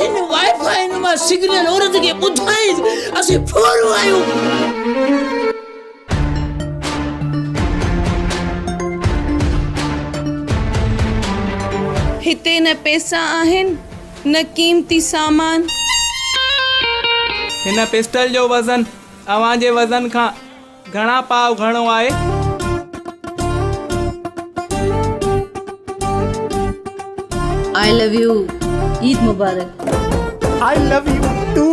هن Wi-Fi نما signal عورت کي ٻڌائيس اسين ڦورو آهيون هتي نه پيسا آهن نه قيمتي سامان. هن پسٽل جو وزن اوهان جي وزن کان گهڻا پاء گهڻو آهي. آء لو يو عيد مبارڪ. I love you too.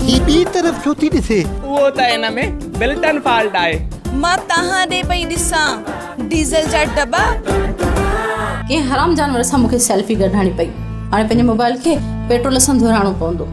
هي ٻي طرف ڇو ٿي ڏسي. اهو ته ان ۾ بلٽن فالٽ آهي. مان تهان ڏي پئي ڏسان ڊيزل جا ڊبا. ڪنهن حرام جانور سان مونکي سيلفي ڪڍرائڻي پئي هاڻي پنهنجي موبائل کي پيٽرول سان ڌورائڻو پوندو.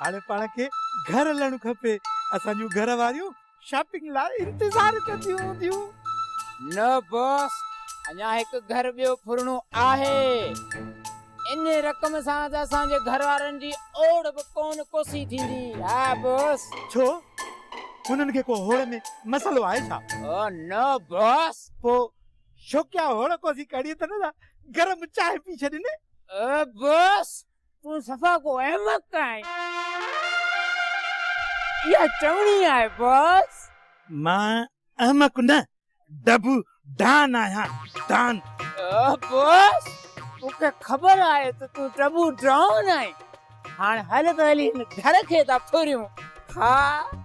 هاڻي پاڻ کي گهر هلڻ کپي. اسان جون گهر واريون شاپنگ لاء انتظار ڪنديون هونديون. نه باس، اڃا هڪ گهر ٻيو ڦرڻو آهي. انهي رقم سان ته اسان جي گهر وارن جي اوڙ به ڪونه ڪوسي ٿيندي. ها باس. ڇو؟ هنن کي ڪو هوڙ ۾ مسئلو آهي ڇا؟ او نه باس. پوء شوقيا هوڙ ڪوسي ڪڙي ته نه ٿا، گرم چانهه پي ڇڏين. او باس. تون صفا ڪو احمق آهين. اها چوڻي آهي باس. مان احمق نه ڊبو ڊان آهيان ڊان. باس مون کي خبر آهي ته تون ڊبو ڊان آهين. هاڻ هل ته هلي هن گهر کي ٿا ڦريون ها.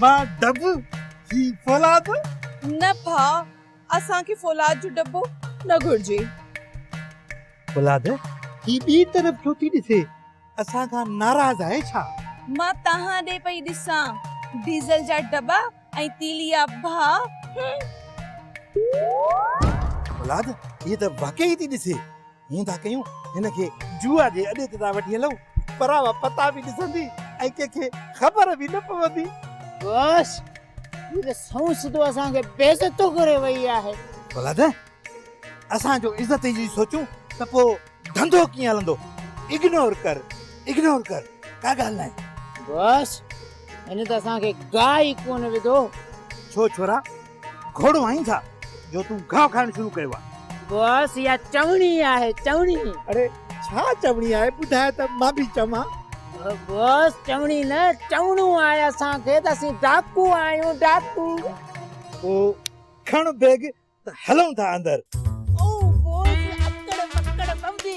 مان ڊٻو هي فولاد. نه ڀاء اسان کي فولاد جو ڊٻو نه گهرجي. فولاد هي ٻي طرف ڇو ٿي ڏسي اسان کان ناراض آهي ڇا؟ مان توهان ڏي پئي ڏسان ڊيزل جا ڊٻا ۽ تيلي آ ڀاء هم. فولاد هي ته واقعي ٿي ڏسي. هون ٿا ڪيون هن کي جوئا جي اڏي تي ٿا وٺي هلون پراوا پتا به ڏسندي ۽ ڪنهن کي خبر به نه پوندي بس هي ته سون سڌو اسان کي بي عزتو ڪري وئي آهي ڀلا ته اسان جو عزت جي سوچون ته پو ڌنڌو ڪيئن هلندو اگنور ڪر اگنور ڪر ڪا ڳالهه ناهي بس هن ته اسان کي گاهه ئي ڪونه وڌو ڇو ڇورا گهوڙو آهين ڇا جو تون گاهه کائڻ شروع ڪيو آهي. باس اها چوڻي آهي چوڻي. اڙي ڇا چوڻي آهي ٻڌاء ته مان به چوان. باس چوڻي نه چوڻو آهي اسان کي ته اسين ڊاڪو آهيون ڊاڪو. پوء کڻ بيگ ته هلون ٿا اندر. او باس اڪڙ مڪڙ ٻنبي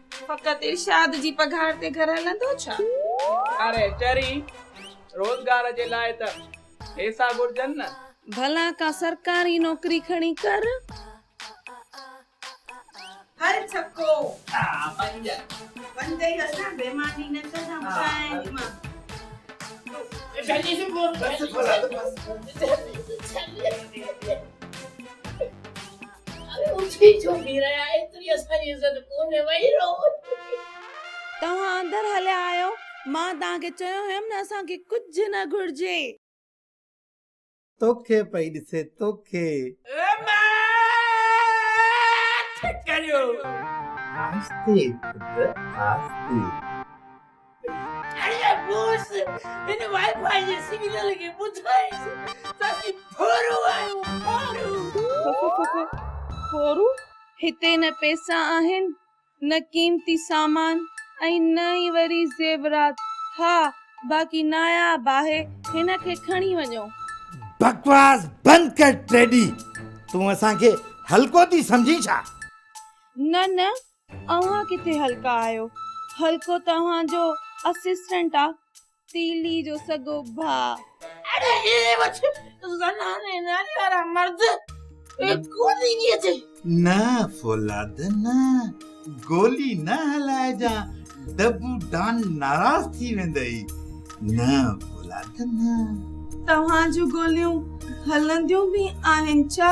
فقط ارشاد جي پگهار تي گهر هلندو ڇا؟ اري چري، روزگار جي لاء ته پيسا گهرجن نه. ڀلا ڪا سرڪاري نوڪري کڻي ڪر. هل ڇڪو. ها پنج. پنج ئي اسان بيماني نه ڪندم ڪنهن مان. ڏس ڀلا ته بس. اري اٿي ڇو بيهي رهيا ايتري اسان جي عزت ڪونهي ويهي رهو. توهان اندر هليا آيو مان توهان کي چيو هيم نه اسان کي ڪجهه نه گهرجي. توکي پئي ڏسي توکي. ماٺ ڪريو. آهستي پٽ آهستي. جڏهن مونس هن وائي فائي جي سگنل کي ٻڌائيس ته اسين ڦورو آهيون ڦورو. ڦورو؟ هتي نه پئسا آهن نه قيمتي سامان ۽ نه ئي وري زيورات. ها باقي ناياب آهي هن کي کڻي وڃو. بڪواس بند ڪر ٽيڊي تون اسان کي هلڪو ٿي سمجهين ڇا؟ نه نه اوهان ڪٿي هلڪا آهيو. هلڪو توهان جو اسسٽنٽ آ. تيلي جو سڳو ڀاء. اڙي هي وٺ زنان ۽ نياڻي وارا مرد ڪونهي ٿي اچي. نه فولاد نه گولي نه هلائجان دبو ڊان ناراض ٿي ويندئي نه فولاد نه. توهان جون گوليون هلنديون به آهن ڇا؟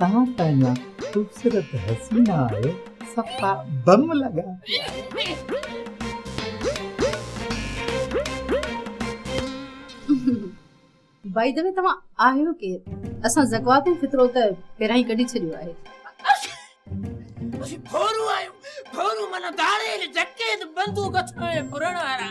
توهان ته اڃا خوبصورت حسينا آهيو صفا بم لڳا پيا. بائي دي وي توهان آهيو ڪير اسان زڪوات ۽ فطرو ته پهريان ئي ڪڍي ڇڏيو آهي. اسين ڦورون آهيون ڦورون معنيٰ ڌاڙيل جڪيت بندوق هٿ ۾ ڦرڻ وارا.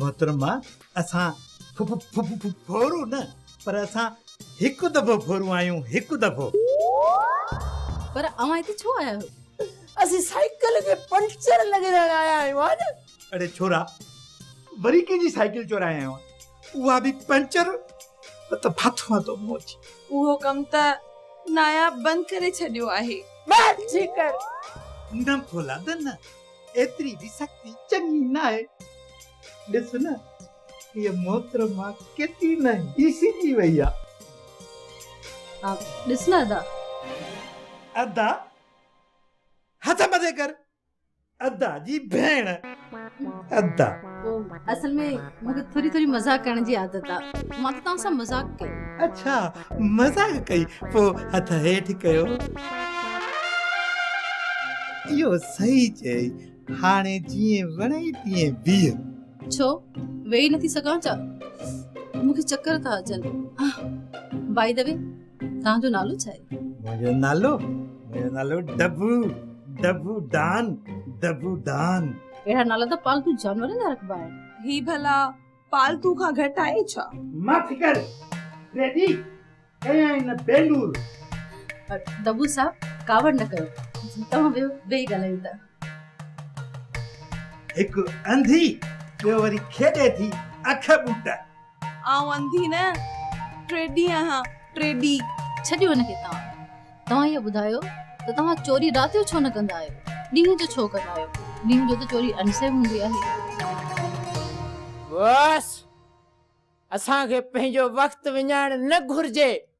محترمه اسان ڦڦورو نه پر اسان هڪ دفعو ڦورو آهيون هڪ دفعو. پر اوهان هتي ڇو آيا آهيو؟ اسين سائيڪل جي پنچر لڳرائڻ آيا آهيون ها نه. اڙي ڇورا وري ڪنهن جي سائيڪل چورائي آيو آهين. اها به پنچر ته ڀت هئا تو مون جي. اهو ڪم ته ناياب بند ڪري ڇڏيو آهي. بس جي ڪر. نه ڀولا ته نه ايتري به سختي چڱي ناهي. ڏس نه هيء محترمه ڪيتري نه هيسي ٿي وئي آ. ڏس نه ادا. ادا هٿ مٿي ڪر. ادا جي ڀيڻ ادا. اصل ۾ مون کي ٿوري ٿوري مذاق ڪرڻ جي عادت آ مان ته توهان سان مذاق ڪيو. اڇا مذاق ڪئي پو هٿ هيٺ ڪيو. اهو صحيح چيئي هاڻي جيئن وڻئي تيئن بيهه. ڇو ويهي نٿي سگهان ڇا مون کي چڪر ٿا اچن باء دي وي توهان جو نالو ڇا آهي منهنجو نالو منهنجو نالو ڊبو ڊبو ڊان ڊبو ڊان اهڙا نالا ته پالتو جانورن جا رکبا آهن هي ڀلا پالتو کان گهٽ آهي ڇا مٿ ڪر ريڊي ڪيا ان بينور ڊبو صاحب ڪاوڙ نه ڪيو توهان ويو ويهي ڳالهايون ته هڪ انڌي ٻيو وري کيڏي ٿي اک ٻوٽا آئون انڌي نه، ٽيڏي آهيان، ٽيڏي. ڇڏيو هن کي توهان. توهان اهو ٻڌايو ته توهان چوري رات جو ڇو نه ڪندا آهيو؟ ڏينهن جو ڇو ڪندا آهيو؟ ڏينهن جو ته چوري انسيب هوندي آهي. بس! اسان کي پنهنجو وقت وڃائڻ نه گهرجي.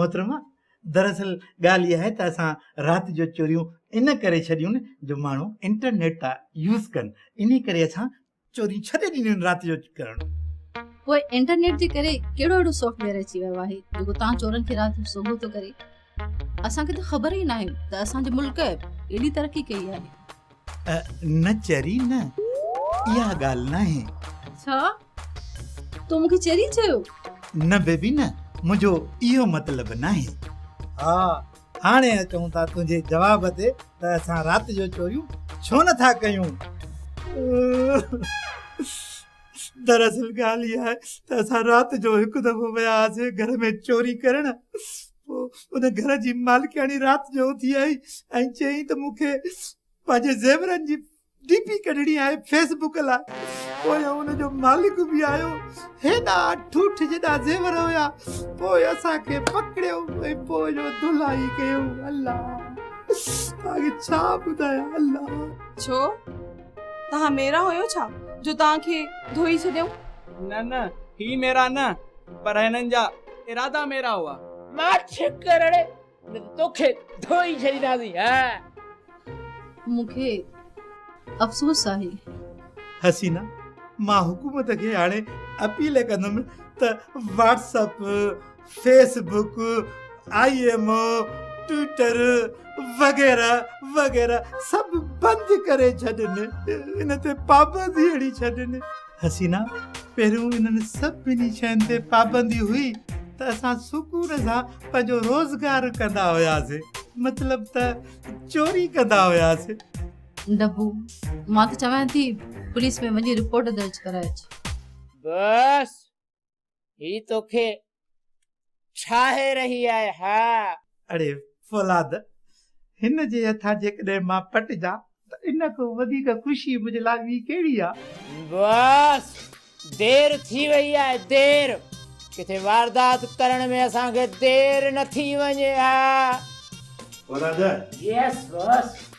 محترمه دراصل ڳالهه اها آهي ته اسان رات جو چوريون ان ڪري ڇڏيون جو ماڻهو انٽرنيٽ ٿا يوز ڪن انهي ڪري اسان چوريون ڇڏي ڏنيون آهن رات جو ڪرڻ. پوء انٽرنيٽ جي ڪري ڪهڙو اهڙو سافٽ ويئر اچي ويو آهي جيڪو توهان چورن کي رات جو سوگهو ٿو ڪري. اسان کي ته خبر ئي ناهي ته اسان جي ملڪ ايڏي ترقي ڪئي آهي. نه چري نه اها ڳالهه ناهي. ڇا تو مونکي چري چيو؟ نه بيبي نه منهنجو اهو مطلب ناهي. ها هاڻي اچون ٿا تنهنجي جواب تي ته اسان رات جو چوريون ڇو نه ٿا ڪيون. دراصل ڳالهه اها آهي ته اسان رات جو هڪ دفعو ويا هئاسين گهر ۾ چوري ڪرڻ پوء ان گهر جي مالڪياڻي رات جو اٿي آئي ۽ چيائين ته مونکي پنهنجي زيورن جي ڊي پي ڪڍڻي آهي فيس بڪ لاء پوء ان جو مالڪ به آيو هيڏا ٺوٺ جيڏا زيور هيا پوء اسان کي پڪڙيو ۽ پوء جو دلائي ڪيو الله تاکي ڇا ٻڌايا الله ڇو تها ميرا هيو ڇا جو تان کي ڌوئي ڇڏيو نه نه هي ميرا نه پر هنن جا ارادا ميرا هئا مان ڇڪ ڪرڻ توکي ڌوئي ڇڏينداسين ها. مون کي افسوس آهي. حسينه، مان حڪومت کي هاڻي اپيل ڪندم ته WhatsApp, Facebook, I M O, Twitter وغيره وغيره سڀ بند ڪري ڇڏن. ان تي پابندي هڻي ڇڏن. حسينا پهريون انهن سڀني شين تي پابندي هئي ته اسان سڪون سان پنهنجو روزگار ڪندا هياسين مطلب ته چوري ڪندا هياسين دبو مان ته چوان ٿي پوليس ۾ وڃي رپورٽ درج ڪرائي اچ. بس هي توکي ڇاهي رهي آهي ها؟ اڙي فولاد، هن جي هٿان جيڪڏهن مان پٽجان ته ان کان وڌيڪ خوشي منهنجي لاء ٻي ڪهڙي آ؟ بس دير ٿي وئي آهي دير، ڪٿي واردات ڪرڻ ۾ اسان کي دير نه ٿي وڃي ها. فولاد، Yes boss.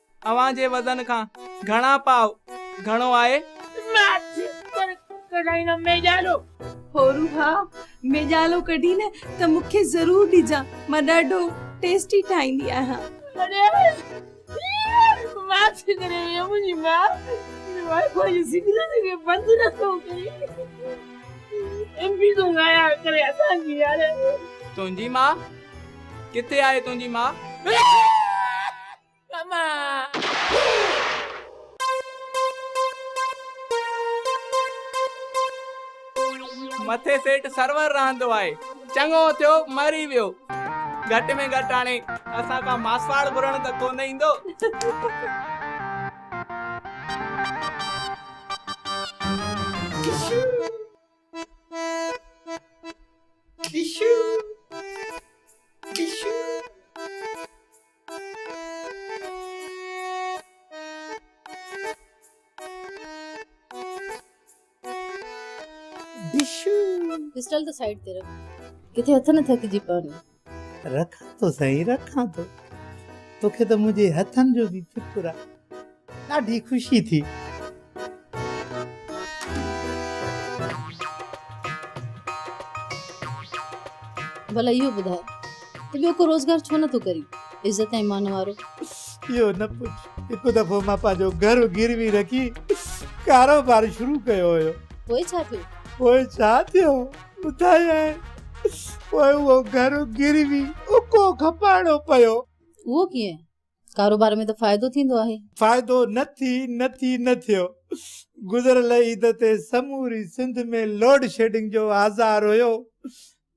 اوهان جي وزن کان گهڻا پاء گهڻو آهي. هو روحا، ميڄالو ڪڍين نه ته مون کي ضرور ڏجان، مان ڏاڍو ٽيسٽي ٺاهيندي آهيان. تنهنجي ماء؟ ڪٿي آهي تنهنجي ماء؟ مٿي سيٽ سرور رهندو آهي. چڱو ٿيو مري ويو. گهٽ ۾ گهٽ هاڻي اسان کان ماسواڙ گهرڻ ته ڪونه ايندو. پسٽل ته سائيڊ تي رک ڪٿي هٿ نه ٿڪجي پون رکان ٿو سائين رکان ٿو توکي ته منهنجي هٿن جو به فڪر آهي ڏاڍي خوشي ٿي. ڀلا اهو ٻڌاء ته ٻيو ڪو روزگار ڇو نٿو ڪرين عزت ۽ مان وارو. اهو نه پڇ هڪ دفعو مان پنهنجو گهر گروي رکي ڪاروبار شروع ڪيو هيو. پوء ڇا ٿيو؟ پوء ڇا ٿيو ٻڌايانء پوء اهو گهر گروي اڪو کپائڻو پيو. اهو ڪيئن؟ ڪاروبار ۾ ته فائدو ٿيندو آهي. فائدو نه ٿي نه ٿي نه ٿيو. گذريل عيد تي سموري سنڌ ۾ لوڊشيڊنگ جو آزار هيو.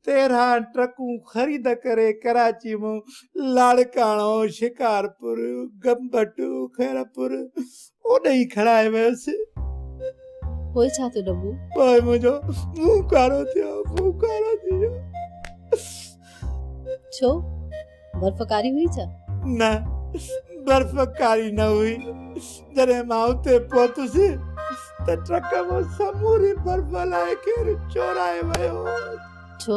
تيرهن ٽرڪون خريد ڪري ڪراچي مون لاڙڪاڻو، شڪارپور، گمبٽ، خيرپور، اوڏي ئي کڻائي ويس. پوء ڇا ٿيو ڏبو؟ پوء منهنجو منهن ڪارو ٿيو، منهن ڪارو ٿي ويو. ڇو؟ برف ڪاري هئي ڇا؟ نه، برف ڪاري نه هئي. جڏهن مان اتي پهتس ته ٽرڪ مان سموري برف هلائي کير چورائي ويو. ڇو؟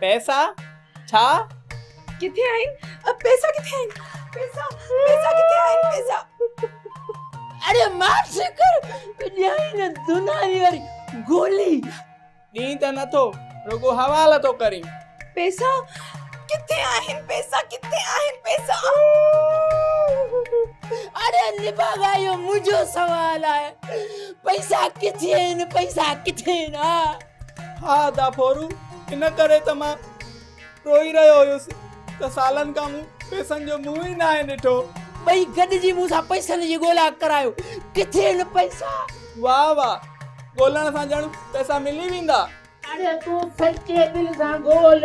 پئسا ڇا ڪٿي آهن پئسا ڪٿي آهن پئسا پئسا ڪٿي آهن پئسا اڙي ماف شڪر ڏيائين نه دناري واري گولي ڏين ته نٿو رڳو حوالو ٿو ڪرين پئسا ڪٿي آهن پئسا ڪٿي آهن پئسا اڙي نباغا اهو منهنجو سوال آهي پئسا ڪٿي آهن پئسا ڪٿي آهن ها ادا ڦورو، ان ڪري ته مان روئي رهيو هيس ته سالن کان مون پئسن جو منهن ئي ناهي ڏٺو. ٻئي گڏجي مون سان پئسن جي ڳولا ڪرايو. ڪٿي آهن پئسا؟ واه واه، ڳولڻ سان ڄڻ پئسا ملي ويندا. اڙي تون سچي دل سان ڳول،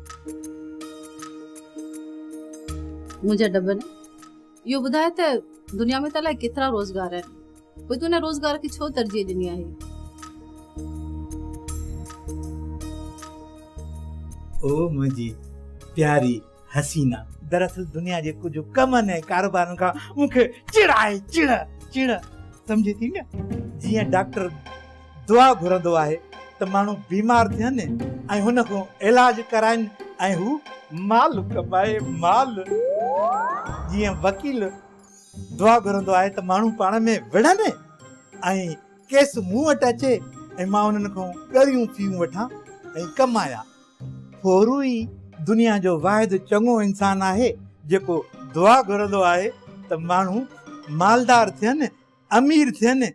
منهنجا ڊٻن اهو ٻڌايو ته دنيا ۾ ته الائي ڪيترا روزگار آهن پوء تون ان روزگار کي ڇو ترجيح ڏني آهي؟ او منهنجي پياري حسينا! دراصل دنيا جي ڪجهه ڪمن ۽ ڪاروبارن کان مون کي چڙ آهي، چڙ، چڙ سمجهي ٿي نه؟ جيئن ڊاڪٽر. دعا گهرندو آهي ته ماڻهو بيمار ٿين ۽ هن کان علاج ڪرائين ۽ هو مال ڪمائي مال جيئن وڪيل دعا گهرندو آهي ته ماڻهو پاڻ ۾ وڙهن ۽ ڪيس مون وٽ اچي ۽ مان انهن کان ڳريون فيون وٺان ۽ ڪمايان ڦورو ئي دنيا جو واحد چڱو انسان آهي جيڪو دعا گهرندو آهي ته ماڻهو مالدار ٿين امير ٿين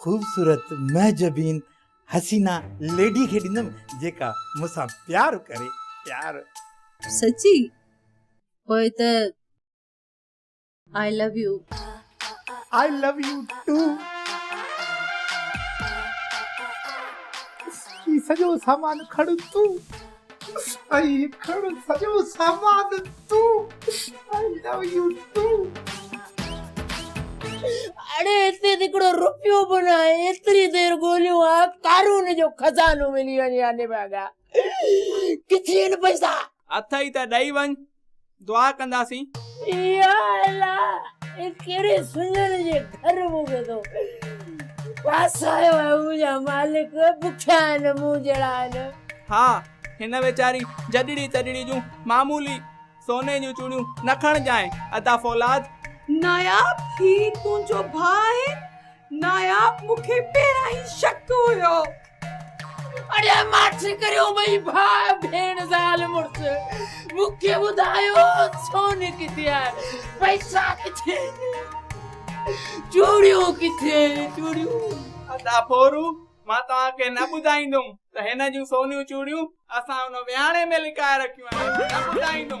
خوبصورت مهجبين حسينه ليڊي کي ڏيندم جيڪا مون سان پيار ڪري پيار. سچي پوء ته I love you. I love you too. هي سڄو سامان کڻ تون. سائين کڻ سڄو سامان تون آئي لو يو ٽو اڙي هتي هڪڙو روپيو به نه آهي ايتري دير ڳوليو آ قارون جو خزانو ملي وڃي ها نڀاڳا ڪٿي آهن پئسا اٿئي ته ڏئي وڃ دعا ڪنداسين. يا الله هي ڪهڙي سڃڻ جي گهر مون کي تو ڦاسايو آهي منهنجا مالڪ بکيا آهن مون جهڙا آهن. ها هن ويچاري جڏڙي تڏڙي جون معمولي سوني جون چوڙيون نه کڻجانء ادا فولاد. ناياب هي تنهنجو ڀاء آهي. ناياب مون کي پهريان ئي شڪ هيو. اڙي ماٺ ڪريو ٻئي ڀاء ڀيڻ زال مڙس مون کي ٻڌايو سون ڪٿي آهي پئسا ڪٿي چوڙيون ڪٿي چوڙيون. ادا ڦورون. مان توهان کي نه ٻڌائيندم ته هن جون سونيون چوڙيون اسان ان ويهاڻي ۾ لڪائي رکيون آهن، نه ٻڌائيندم.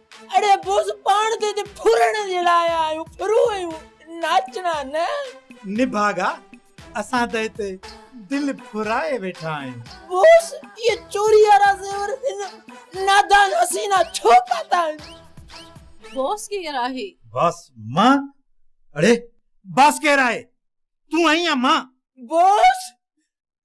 اڙي بوس پاڻ تي ته ڦرڻ جي لاء آيا آهيون ڦرون ايون ناچڻا نه. نڀاڳا اسان ته هتي دل ڦرائي ويٺا آهيون. بوس اهي چوري وارا زيور هن نادان حسينا ڇو پاتا آهن. باس ڪير آهي؟ باس مان اڙي باس ڪير آهي تون آهين يا مان. بوس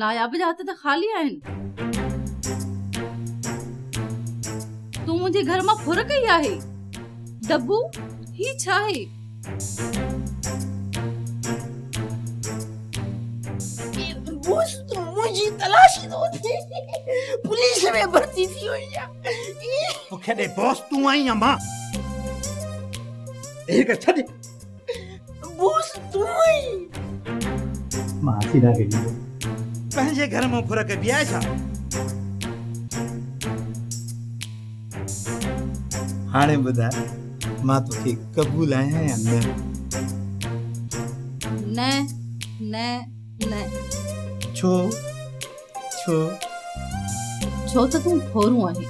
ناياب جا هٿ ته خالي آهن. تون منهنجي گهر مان ڦر ڪئي آهي. دبو، هي ڇا آهي؟ بوس تون منهنجي تلاشي ٿو وٺين. پوليس ۾ ڀرتي ٿي وئي آهي. مون کي ڏي بوس تون آهين يا مان. هيء گهر ڇڏ. بوس تون ئي مان سيدا کي ڏيندو پنهنجي گهر مون ڦر ڪبي آهي ڇا هاڻي ٻڌاء مان توکي قبول آهيان يا نه نه نه نه ڇو ڇو ڇو ته تون ڦورون آهين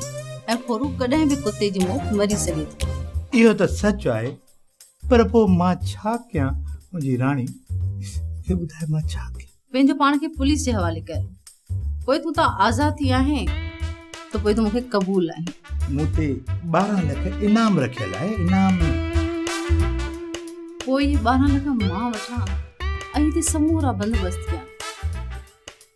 ۽ ڦورون ڪڏهن به ڪتي جي موت مري سگهي ٿو اهو ته سچ آهي پر پوء مان ڇا ڪيان؟ منهنجي راڻي، اي ٻڌاء مان ڇا ڪيان؟ پنهنجو پاڻ کي پوليس جي حوالي ڪر. پوء تون تان آزاد ٿي آهين ته پوء تون مون کي قبول آهين. مون تي ٻارهن لک انعام رکيل آهي، انعام. پوء اهي ٻارهن لک مان وٺان ۽ هتي سمورا بندوبست ڪيان.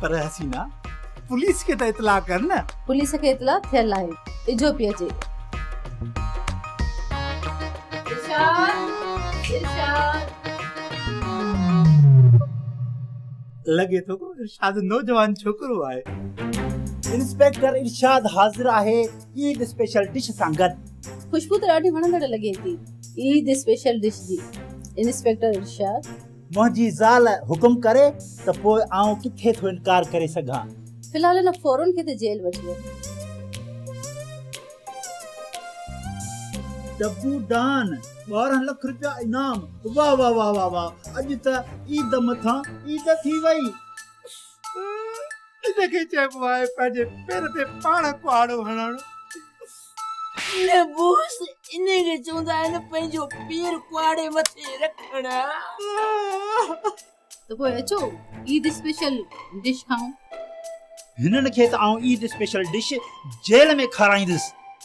پر حسينا پوليس کي ته اطلاع ڪر نه. پوليس کي اطلاع ٿيل آهي اجهو پئي اچي. ارشاد ارشاد. لڳي ٿو ارشاد نوجوان ڇوڪرو آهي. انسپيڪٽر ارشاد حاضر آهي. عيد اسپيشل ڊش سان گڏ. خوشبو ته ڏاڍي وڻندڙ لڳي ٿي عيد اسپيشل ڊش جي انسپيڪٽر ارشاد. منهنجي زال حڪم ڪري ته پوء آئون ڪٿي ٿو انڪار ڪري سگهان. في الحال هن ڦورن کي ته جيل وٺي ويو. ڊبو ڊان ٻارهن لک رپيا انعام واه واه واه واه واه اڄ ته عيد مٿان عيد ٿي وئي. ان کي چئبو آهي پنهنجي پير تي پاڻ ڪهاڙو هڻڻ. نه بوس، ان کي چوندا آهن پنهنجو پير ڪهاڙي مٿي رکڻ. ته پوء اچو عيد اسپيشل ڊش کائون. هنن کي ته آئون عيد اسپيشل ڊش جيل ۾ کارائيندس.